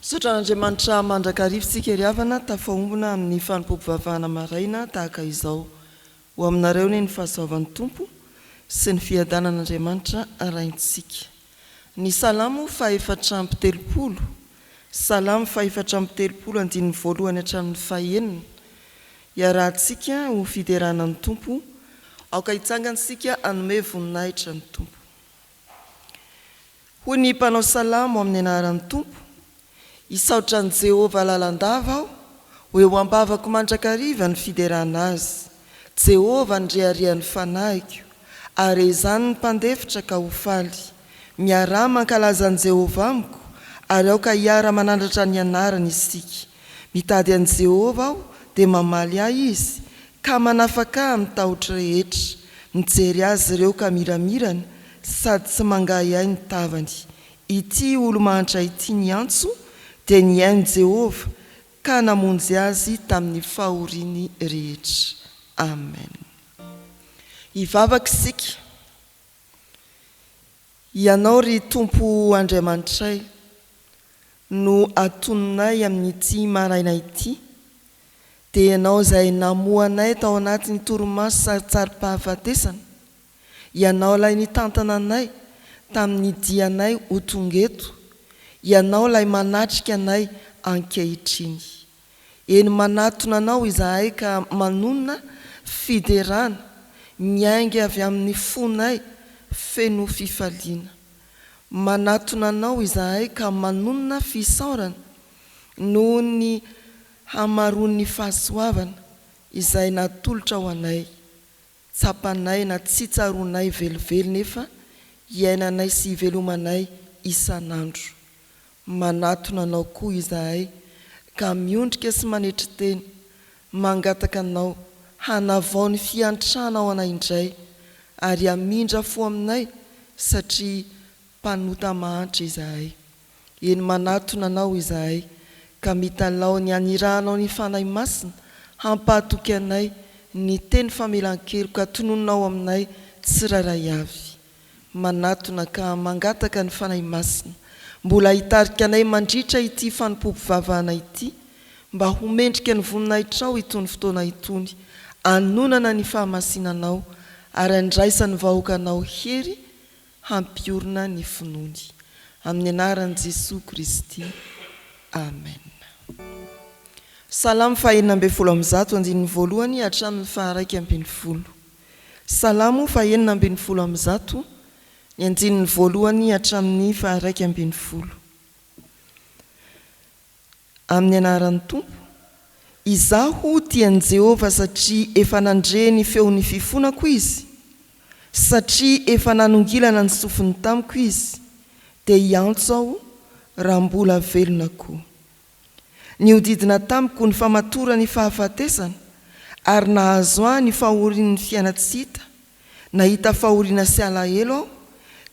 Misaotra an'Andriamanitra mandrakariva isika ry havana tafahombona amin'ny fanompoam-pivavahana maraina tahaka izao. Ho aminareo anie ny fahasoavan'ny Tompo sy ny fiadanan'Andriamanitra Raintsika. Ny Salamo fahefatra amby telopolo, Salamo fahefatra amby telopolo andininy voalohany hatramin'ny fahenina, Iarahantsika ho fiderana ny Tompo, aoka hitsangantsika hanome voninahitra ny Tompo. Hoy ny mpanao salamo amin'ny anaran'ny Tompo, Hisaotra an'i Jehovah lalandava aho, ho eo am-bavako mandrakariva ny fiderana azy. Jehovah ny reharehan'ny fanahiko, ary ezahiny ny mpandefitra ka ho faly. Miaraha mankalaza an'i Jehovah amiko, ary aoka hiara-manandratra ny anarany isika. Mitady an'i Jehovah aho, dia mamaly ahy izy, ka manafaka ahy amin'ny tahotro rehetra. Mijery azy ireo ka miramirana, sady tsy mangahiahy ny tavany. Ity olo-mahantra ity niantso dia nihaino Jehovah ka namonjy azy tamin'ny fahoriany rehetra. Amen. Hivavaka isika. Hianao, ry Tompo Andriamanitray, no atononay amin'ity maraina ity, dia Ianao izay namoha anay tao anatin'ny torimaso sarotsarom-pahafatesana, Ianao ilay nitantana anay tamin'ny dianay ho tonga eto, Ianao ilay manatrika anay ankehitriny. Eny manatona Anao izahay ka manonona fiderana miainga avy amin'ny fonay feno fifaliana. Manatona Anao izahay ka manonona fisaorana noho ny hamaroan'ny fahasoavana izay natolotrao anay Tsapanay na tsy tsaroanay velively nefa iainanay sy ivelomanay isan'andro. Manatona Anao koa izahay ka miondrika sy manetry tena, mangataka Anao hanavao ny fiantranao anay indray ary hamindra fo aminay satria mpanota mahantra izahay. Eny manatona Anao izahay ka mitalaho ny hanirahanao ny Fanahy Masina hampahatoky anay ny teny famelan-keloka tononinao aminay tsirairay avy. Manatona ka mangataka ny Fanahy Masina mbola hitarika anay mandritra ity fanompoam-pivavahana ity mba ho mendrika ny voninahitrao itony fotoana itony anonana ny fahamasinanao ary andraisan'ny vahoakanao hery hampiorina ny finoany. Amin'ny anaran'i Jesoa Kristy. Amen. Salamo fahenina ambin'ny folo amby zato, andininy voalohany hatramin'ny faharaika ambin'ny folo. Salamo fahenina ambin'ny folo amby zato, ny andininy voalohany hatramin'ny faharaika ambin'ny folo. Amin'ny anaran'ny Tompo, Izaho dia an'i Jehovah satria efa nandre ny feon'ny fifonako izy, satria efa nanongilana ny sofiny tamiko izy, dia hiantso aho raha mbola velona koa. Nihodidina tamiko ny famatoran'ny fahafatesana, ary nahazo ahy ny fahorian'ny fiaina tsy hita, Nahita fahoriana sy alahelo aho,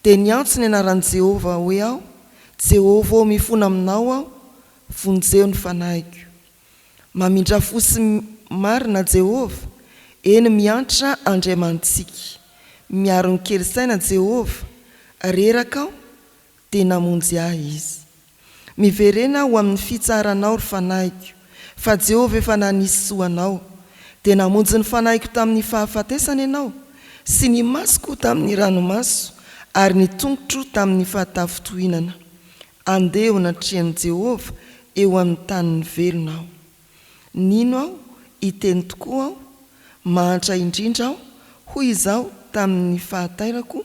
dia niantso ny anaran'i Jehovah hoe aho, Jehovah ô, mifona aminao aho, vonjeo ny fanahiko. Mamindrà fo sy marina Jehovah, eny, miantra Andriamanitsika. Miaro ny kely saina Jehovah, reraka aho, dia namonjy ahy izy. Miverena ho amin'ny fitsaranao, ry fanahiko, fa Jehovah efa nanisy soa anao. Dia namonjy ny fanahiko tamin'ny fahafatesana ianao, sy ny masoko tamin'ny ranomaso, ary ny tongotro tamin'ny fahatafintohinana. Andeha eo anatrehan'i Jehovah eo amin'ny tanin'ny velona aho. Nino aho, hiteny tokoa aho, mahantra indrindra aho, hoy izaho tamin'ny fahatairako,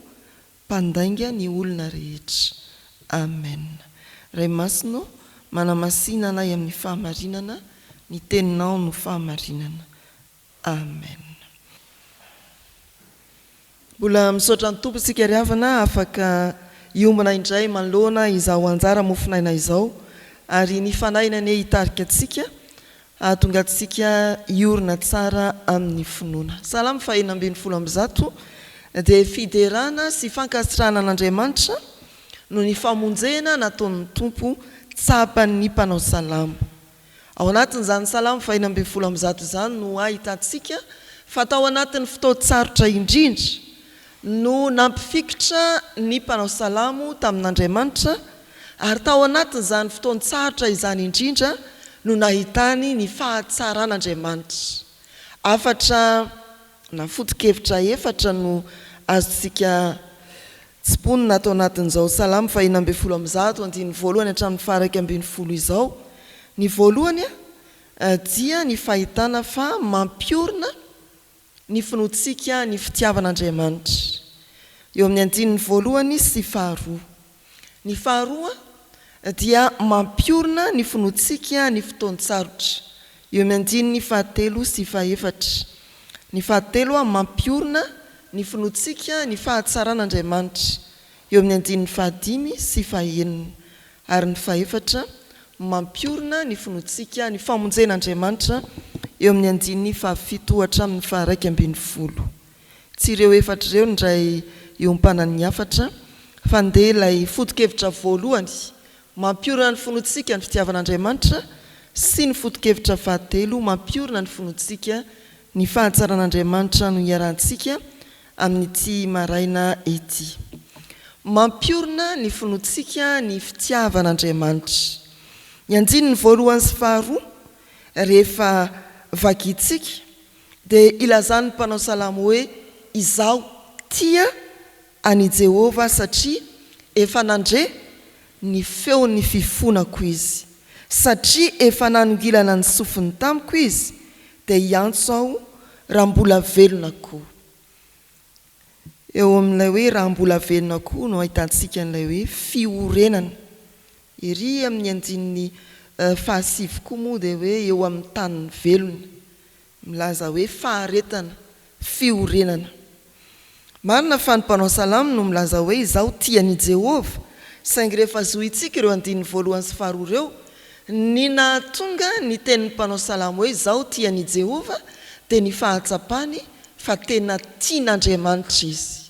mpandainga ny olona rehetra. Amen. Ray Masina ô, manamasina anay amin'ny fahamarinana, ny Teninao no fahamarinana. Amen. Mbola misaotra ny Tompo isika ry havana afaka hiombona indray manoloana izao anjara mofon'aina izao ary ny Fanahiny anie hitarika antsika Hahatonga antsika hiorina tsara amin'ny finoana. Salamo fahenina ambin'ny folo amby zato dia fiderana sy fankasitrahana an'Andriamanitra noho ny famonjena nataon'ny Tompo tsapan'ny mpanao salamo. Ao anatin'izany Salamo fahenina ambin'ny folo amby zato izany no ahitantsika fa tao anatin'ny fotoan-tsarotra indrindra no nampifikitra ny mpanao salamo tamin'Andriamanitra, ary tao anatin'izany fotoan-tsarotra izany indrindra no nahitany ny fahatsaran'Andriamanitra. Hafatra na foto-kevitra efatra no azontsika tsimponina ato anatin'izao salamo fahina ambin'ny folo amby zato, andininy voalohany hatramin'ny faharaika ambin'ny folo izao. Ny voalohany dia ny fahitana fa mampiorina Ny finoantsika ny fitiavan'Andriamanitra. Eo amin'ny andininy voalohany sy faharoa. Ny faharoa dia mampiorina ny finoantsika ny fotoan-tsarotra. Eo amin'ny andininy fahatelo sy fahefatra. Ny fahatelo mampiorina ny finoantsika ny fahatsaran'Andriamanitra. Eo amin'ny andininy fahadimy sy fahenina. Ary ny fahefatra, mampiorina ny finoantsika ny famonjen' Andriamanitra eo amin' ny andininy fahafito hatramin' ny faharaika ambin' ny folo. Tsy ireo efatra ireo indray iompanany ny hafatra, fa ndeha ilay foto-kevitra voalohany mampiorina ny finoantsika ny fitiavan' Andriamanitra sy ny foto-kevitra fahatelo mampiorina ny finoantsika ny fahatsaran' Andriamanitra no iarahantsika Amin'ity maraina ity. Mampiorina ny finoantsika ny fitiavan'Andriamanitra. Ny andininy voalohany sy faharoa, rehefa vakintsika, dia ilazan'ny mpanao salamo hoe, Izaho tia an'i Jehovah satria efa nandre ny feon'ny fifonako izy, satria efa nanongilana ny sofiny tamiko izy, Dia hiantso aho raha mbola velona koa. Eo amin'ilay hoe raha mbola velona koa no ahitantsika an'ilay hoe fiorenana. Ery amin'ny andininy fahasivy koa moa dia hoe eo amin'ny tanin'ny velona. Milaza hoe faharetana fiorenana. Marina fa ny mpanao salamo no milaza hoe izaho tia an'i Jehovah, saingy rehefa zohintsika ireo andininy voalohany sy faharoa ireo, ny nahatonga ny tenin'ny mpanao salamo hoe izaho tia an'i Jehovah dia ny fahatsapany fa tena tian'Andriamanitra izy.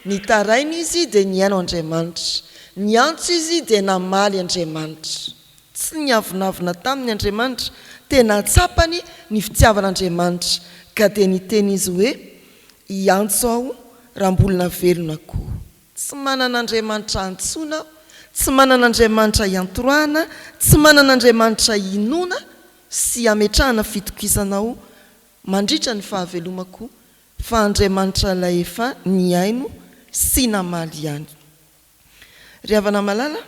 Nitaraina izy dia nihaino Andriamanitra. Niantso izy dia namaly Andriamanitra. Tsy niavonavona taminy Andriamanitra. Tena tsapany ny fitiavan'Andriamanitra ka dia niteny izy hoe, Hiantso aho raha mbolna velona koa. Tsy manana Andriamanitra antsoina aho, tsy manana Andriamanitra iantorahana, tsy manana Andriamanitra inoana sy ametrahana fitokisana aho mandritra ny fahavelomako Fa Andriamanitra ilay efa nihaino sy namaly ihany. Ry havana malala,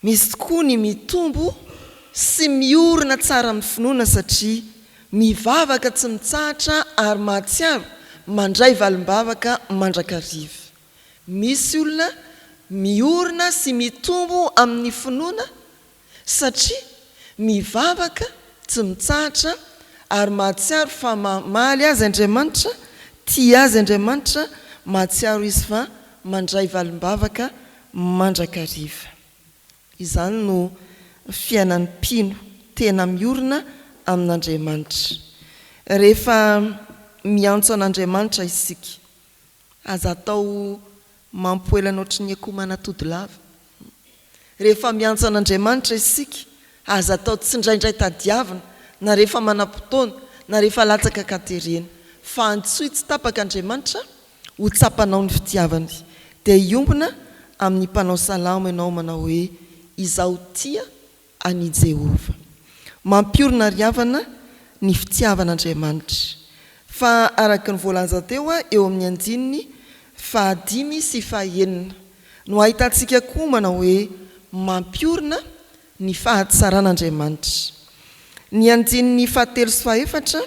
misy tokoa ny mitombo sy miorina tsara amin'ny finoana satria mivavaka tsy mitsahatra ary mahatsiaro mandray valim-bavaka mandrakariva. Misy olona miorina sy mitombo amin'ny finoana satria mivavaka tsy mitsahatra ary mahatsiaro fa mamaly azy Andriamanitra, tia azy Andriamanitra, mahatsiaro izy fa mandray valim-bavaka mandrakariva. Izany no fiainan'ny mpino tena miorina amin'Andriamanitra. Rehefa miantso an'Andriamanitra isika, Aza atao mampoelana ohatry ny akoho manatody lava. Rehefa miantso an'Andriamanitra isika, aza atao tsindraindray tadiavina, na rehefa manam-potoana, na rehefa latsaka ka terena. Fa antsoy tsy tapaka Andriamanitra ho tsapanao ny fitiavany. Dia hiombona amin'ny mpanao salamo ianao manao hoe, Izaho tia an' i Jehovah. Mampiorina ary havana ny fitiavan' Andriamanitra. Fa araka ny voalaza teo eo amin' ny andininy fahadimy sy fahaenina, no ahitantsika koa manao hoe mampiorina ny fahatsaran' Andriamanitra. Ny andininy fahatelo sy fahaefatra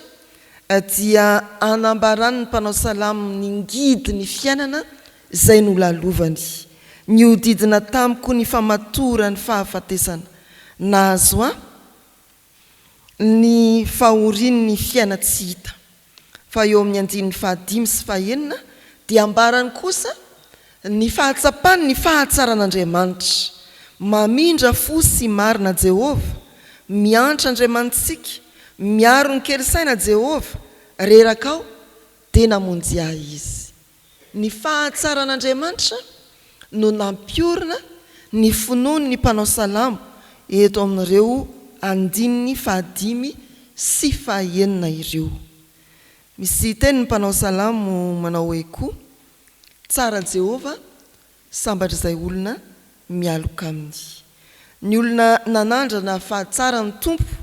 dia anambaran' ny mpanao salamo ny ngidy ny fiainana Izay nolalovany. Nihodidina tamiko ny famatoran'ny fahafatesana. Nahazo ahy ny fahorian'ny fiaina tsy hita. Fa eo amin'ny andininy fahadimy sy fahenina dia ambarany kosa ny fahatsapany ny fahatsaran'Andriamanitra. Mamindra fo sy marina Jehovah, miantra Andriamanitsika, miaro ny kely saina Jehovah, reraka aho, dia namonjy ahy Izy. Ny fahatsaran'Andriamanitra no nampiorina ny finoan'ny mpanao salamo eto amin'ireo andininy fahadimy sy fahaenina ireo. Misy teny ny mpanao salamo manao hoe koa, Tsara Jehovah, sambatr'izay olona mialoka aminy. Ny olona nanandrana fahatsaran'ny Tompo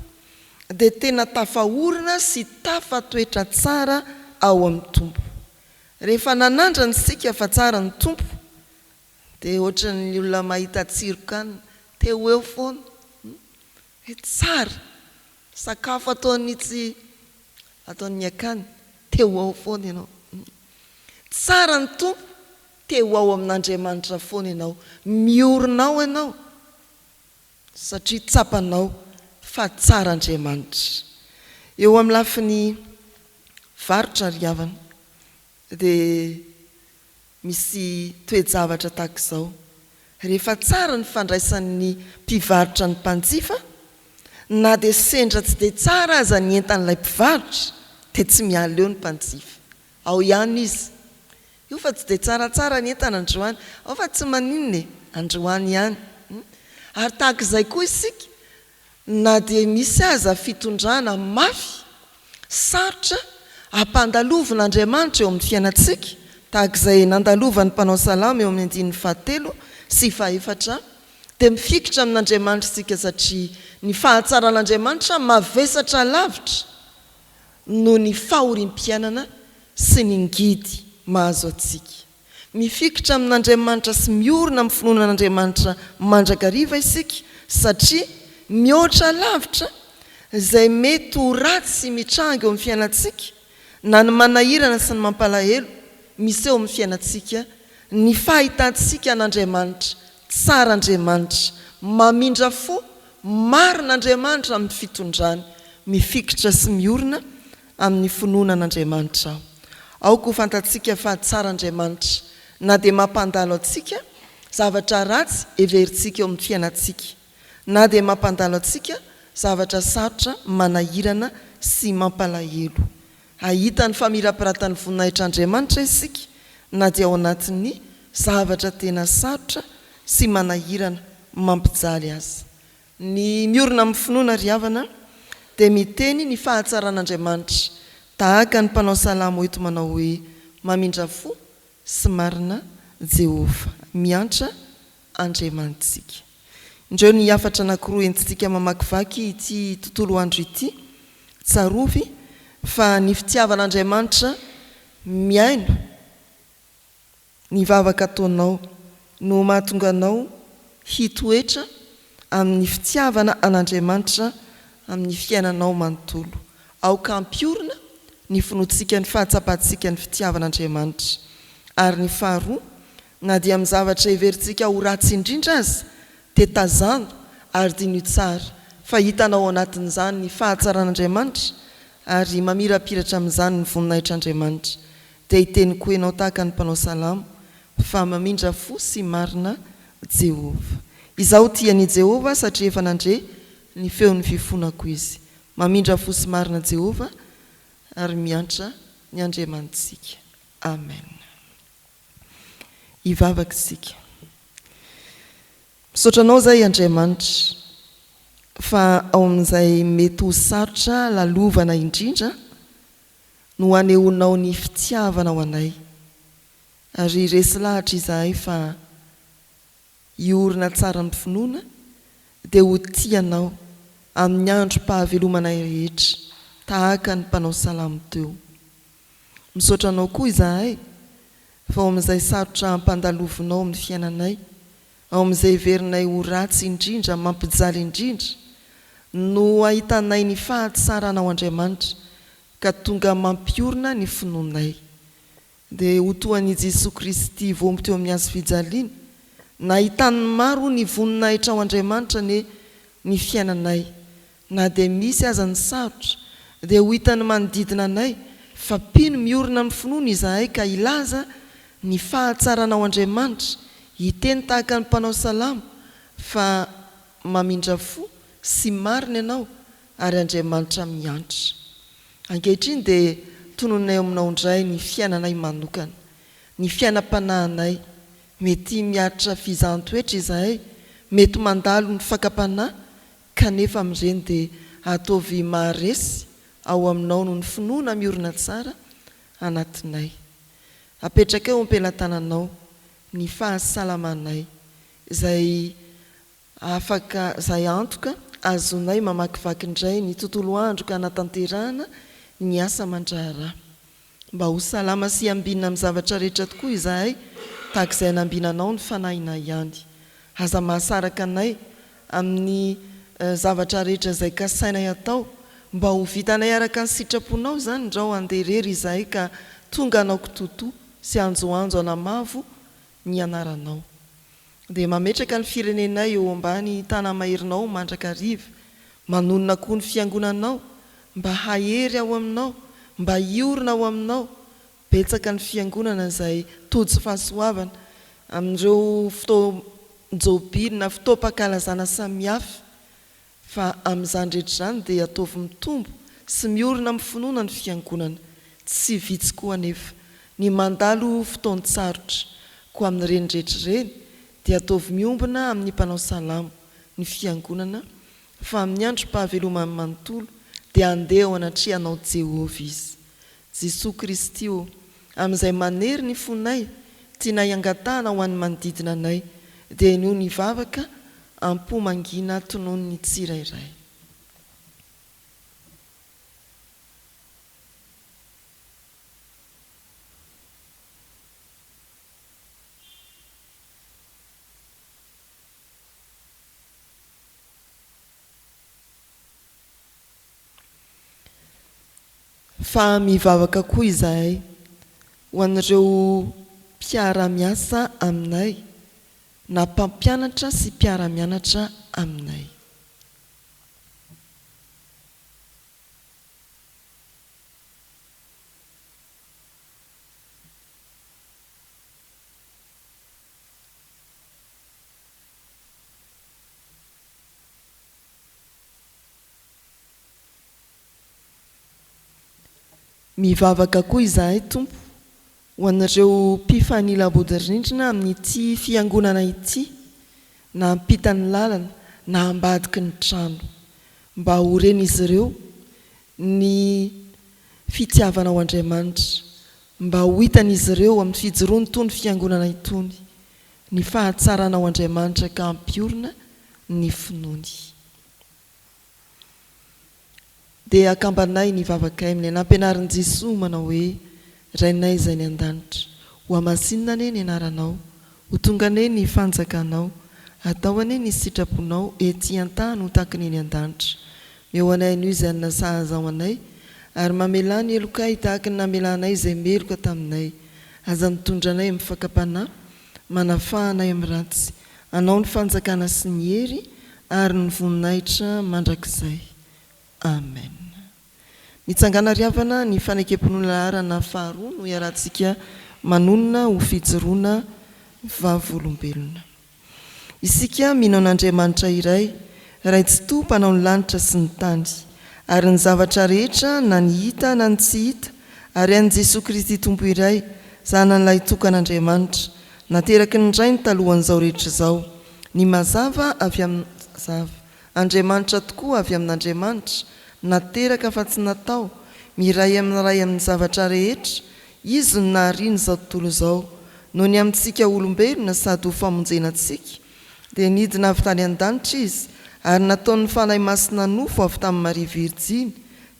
dia tena tafaorina sy tafatoetra tsara ao amin'ny Tompo. Rehefa nanandrana isika fa tsara ny Tompo dia ohatran'ny olona mahita tsiron-kanina te ho eo foana hoe tsara, sakafo ataon'ny tsy ataon'ny akany te ho ao foana ianao. Tsara ny Tompo, te ho ao amin'Andriamanitra foana ianao, miorina ao ianao satria tsapanao fa tsara Andriamanitra. Eo amin'ny lafiny varotra ry havana dia misy toe-javatra tahaka izao, rehefa tsara ny fandraisan'ny mpivarotra ny mpanjifa, na dia sendra tsy dia tsara aza ny entan'ilay mpivarotra dia tsy miala eo ny mpanjifa, ao ihany izy, Io fa tsy dia tsaratsara ny entana androany. Ao fa tsy maninona e, androany ihany. Ary tahaka izay koa isika, na dia misy aza fitondrana mafy, sarotra ampandalovin'Andriamanitra eo amin'ny fiainantsika, tahaka izay nandalovan'ny mpanao salamo eo amin'ny andininy fahatelo sy fahefatra, dia mifikitra amin'Andriamanitra isika satria ny fahatsaran'Andriamanitra mavesatra lavitra. noho ny fahoriam-piainana sy ny ngidy mahazo antsika. Mifikitra amin'Andriamanitra sy miorina amin'ny finoana an'Andriamanitra mandrakariva isika satria mihoatra lavitra izay mety ho ratsy mitranga eo amin'ny fiainantsika na ny manahirana sy ny mampalahelo miseho amin'ny fiainantsika ny fahitantsika an'Andriamanitra Tsara Andriamanitra, mamindra fo, marina Andriamanitra amin'ny fitondrany, mifikitra sy miorina amin'ny finoana an'Andriamanitra aho. Aoka ho fantatsika fa tsara Andriamanitra, na dia mampandalo antsika, zavatra ratsy heverintsika eo amin'ny fiainantsika, na dia mampandalo antsika, zavatra sarotra, manahirana sy mampalahelo. Hahita ny famirapiratan'ny voninahitr'Andriamanitra isika na dia ao anatin'ny zavatra tena sarotra sy manahirana mampijaly aza. Ny miorina amin'ny finoana, ry havana, dia miteny ny fahatsaran'Andriamanitra, tahaka ny mpanao salamo eto manao hoe, Mamindra fo sy marina Jehovah. Miantra Andriamanitsika. Indreo ny hafatra anankiroa entintsika mamakivaky ity tontolo andro ity. Tsarovy fa ny fitiavan'Andriamanitra mihaino ny vavaka ataonao no mahatonga anao hitoetra amin'ny fitiavana an'Andriamanitra amin'ny fiainanao manontolo. Aoka hampiorina ny finoantsika ny fahatsapantsika ny fitiavan'Andriamanitra ary ny faharoa Na dia amin'ny zavatra heverintsika ho ratsy indrindra aza, dia tazano ary diniho tsara fa hitanao ao anatin'izany ny fahatsaran'Andriamanitra, ary mamirapiratra amin'izany ny voninahitr'Andriamanitra. Dia hiteny koa ianao tahaka ny mpanao salamo fa mamindra fo sy marina Jehovah. Izaho tia an'i Jehovah satria efa nandre ny feon'ny fifonako izy. Mamindra fo sy marina Jehovah ary miantra ny Andriamanitsika. Amen. Hivavaka isika. Misaotra Anao izay Andriamanitra fa ao amin'izay mety ho sarotra lalovana indrindra no anehoanao ny fitiavanao anay. Ary resy lahatra izahay fa hiorina tsara amin'ny finoana dia ho tia Anao amin'ny androm-pahavelomanay rehetra tahaka ny mpanao salamo teo. Misaotra anao koa izahay fa ao amin'izay sarotra ampandalovinao amin'ny fiainanay, ao amin'izay heverinay ho ratsy indrindra, mampijaly indrindra, no ahitanay ny fahatsaranao Andriamanitra ka tonga mampiorina ny finoanay. Dia ho toa an'i Jesoa Kristy voaomby teo amin'ny hazo fijaliana, nahitan'ny maro ny voninahitrao Andriamanitra anie ny fiainanay Na dia misy aza ny sarotra, dia ho hitan'ny manodidina anay fa mpino miorina amin'ny finoany izahay ka hilaza ny fahatsaranao Andriamanitra, hiteny tahaka ny mpanao salamo fa mamindra fo sy marina ianao ary Andriamanitra miantra. Ankehitriny dia tononina eo aminao indray ny fiainanay manokana, ny fiainam-panahinay, mety miaritra fizahan-toetra izahay, mety mandalo ny fakam-panahy Kanefa amin'ireny dia ataovy maharesy ao aminao noho ny finoana miorina tsara anatinay. Apetraka eo am-pelatananao ny fahasalamanay izay afaka izay antoka azonay mamakivaky indray ny tontolo andro ka hanatanterahana ny asa aman-draharaha. Mba ho salama sy ambinina amin'ny zavatra rehetra tokoa izahay, tahaka izay hanambina Anao ny fanahinay ihany. Aza mahasaraka anay amin'ny zavatra rehetra izay kasainay hatao, mba ho vitanay araka ny sitraponao izany ndrao handeha irery izahay ka tonga hanao kitoatoa sy hanjohanjo hanamavo ny anaranao. Dia mametraka ny firenenay eo ambany tanamairinao mandrakariva, manonona koa ny fiangonanao, mba hahery ao aminao, mba hiorina ao aminao, betsaka ny fiangonana izay tojo fahasoavana, amin'ireo fotoam-jobily na fotoam-pankalazana samihafa, Fa amin'izany rehetra izany dia ataovy mitombo sy miorina amin'ny finoana ny Fiangonana. Tsy vitsy koa anefa ny mandalo fotoan-tsarotra. Koa amin'ireny rehetra ireny dia ataovy miombona amin'ny mpanao salamo, ny Fiangonana, fa amin'ny androm-pahavelomany manontolo dia handeha ao anatrehanao Jehovah izy. Jesoa Kristy ô, Amin'izay manery ny fonay, tianay angatahana ho an'ny manodidina anay, dia inoa ny vavaka am-po mangina tonon'ny tsirairay. Fa mivavaka koa izahay ho an'ireo mpiara-miasa aminay na mpampianatra sy mpiara-mianatra aminay. Mivavaka koa izahay, Tompo, ho an'ireo mpifanila-bodirindrina amin'ity Fiangonana ity, na ampitan'ny lalana na ambadiky ny trano, mba ho ren'izy ireo ny fitiavanao Andriamanitra, mba ho hitan'izy ireo amin'ny fijoroany itony Fiangonana itony, Ny fahatsaranao Andriamanitra ka hampiorina ny finoany. Dia akambanay ny vavakay amin'ilay nampianarin'i Jesoa manao hoe, Rainay izay any an-danitra, hohamasinina anie ny anaranao, ho tonga anie ny fanjakanao, atao anie ny sitraponao ety an-tany ho takiny eny an-danitra. Meo anay anio izay hanina sahaza ho anay, ary mamelà ny helokay tahaka ny namelanay izay meloka taminay. Aza mitondra anay amin'ny fakam-panahy, manafaha anay amin'ny ratsy. Anao ny fanjakana sy ny hery ary ny voninahitra mandrakizay. Amen. Mitsangàna ry havana ny fanekem-pinoana laharana faharoa no iarahantsika manonona ho fijoroana vavolombelona. Isika mino an'Andriamanitra iray, Ray Tsitoha Mpanao ny lanitra sy ny tany, ary ny zavatra rehetra na ny hita na ny tsy hita, ary an'i Jesoa Kristy Tompo iray, Zanany Lahitokan'Andriamanitra, nateraky ny Rainy talohan'izao rehetra izao, ny mazava avy amin'ny mazava, Andriamanitra tokoa avy amin'Andriamanitra, nateraka fa tsy natao, miray amin'ny Ray amin'ny zavatra rehetra, Izy no nahariana izao tontolo izao, noho ny amintsika olombelona sady ho famonjena antsika, dia nidina avy tany an-danitra Izy, ary nataon'ny Fanahy Masina nofo avy tamin'i Maria Virjiny,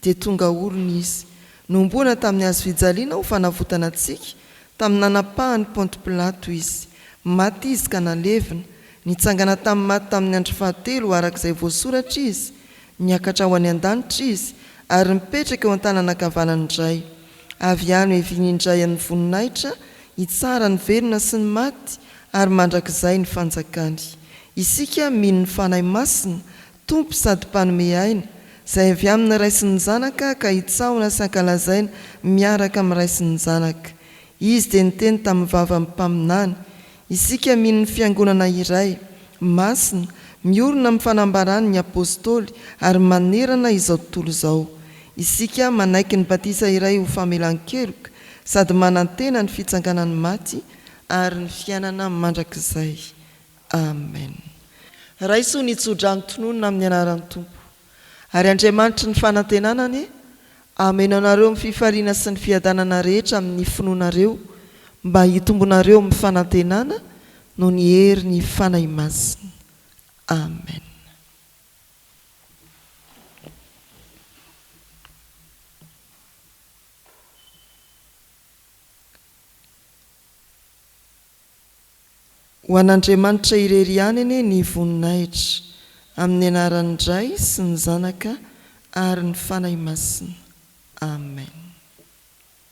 dia tonga olona Izy. Nohomboana tamin'ny hazo fijaliana ho fanavotana antsika, tamin'ny nanapahan'i Ponty Pilato Izy. Maty Izy ka nalevina. Nitsangana tamin'ny maty tamin'ny andro fahatelo, araka izay voasoratra Izy, Niakatra ho any an-danitra Izy, ary mipetraka eo an-tanana ankavanan'ny Ray. Avy any ho heviany indray amin'ny voninahitra, hitsara ny velona sy ny maty, ary mandrakizay ny fanjakany. Isika mino ny Fanahy Masina, Tompo sady Mpanome aina, izay avy amin'ny Ray sy ny Zanaka ka hitsahona sy hankalazaina miaraka amin'ny Ray sy ny Zanaka. Izy dia niteny tamin'ny vavan'ny mpaminany, Isika mino ny Fiangonana iray, masina, miorina amin'ny fanambaran'ny Apôstôly ary manerana izao tontolo izao. Isika manaiky ny batisa iray ho famelan-keloka sady manantena ny fitsanganan'ny maty ary ny fiainana mandrakizay. Amen. Raiso ny tso-drano tononina amin'ny anaran'ny Tompo. Ary Andriamanitry ny fanantenana anie hameno anareo amin'ny fifaliana sy ny fiadanana rehetra amin'ny finoanareo, mba hitombonareo amin'ny fanantenana noho ny herin'ny Fanahy Masina. Amen. Ho an'Andriamanitra irery ihany anie ny voninahitra, amin'ny anaran'ny Ray sy ny Zanaka ary ny Fanahy Masina. Amen.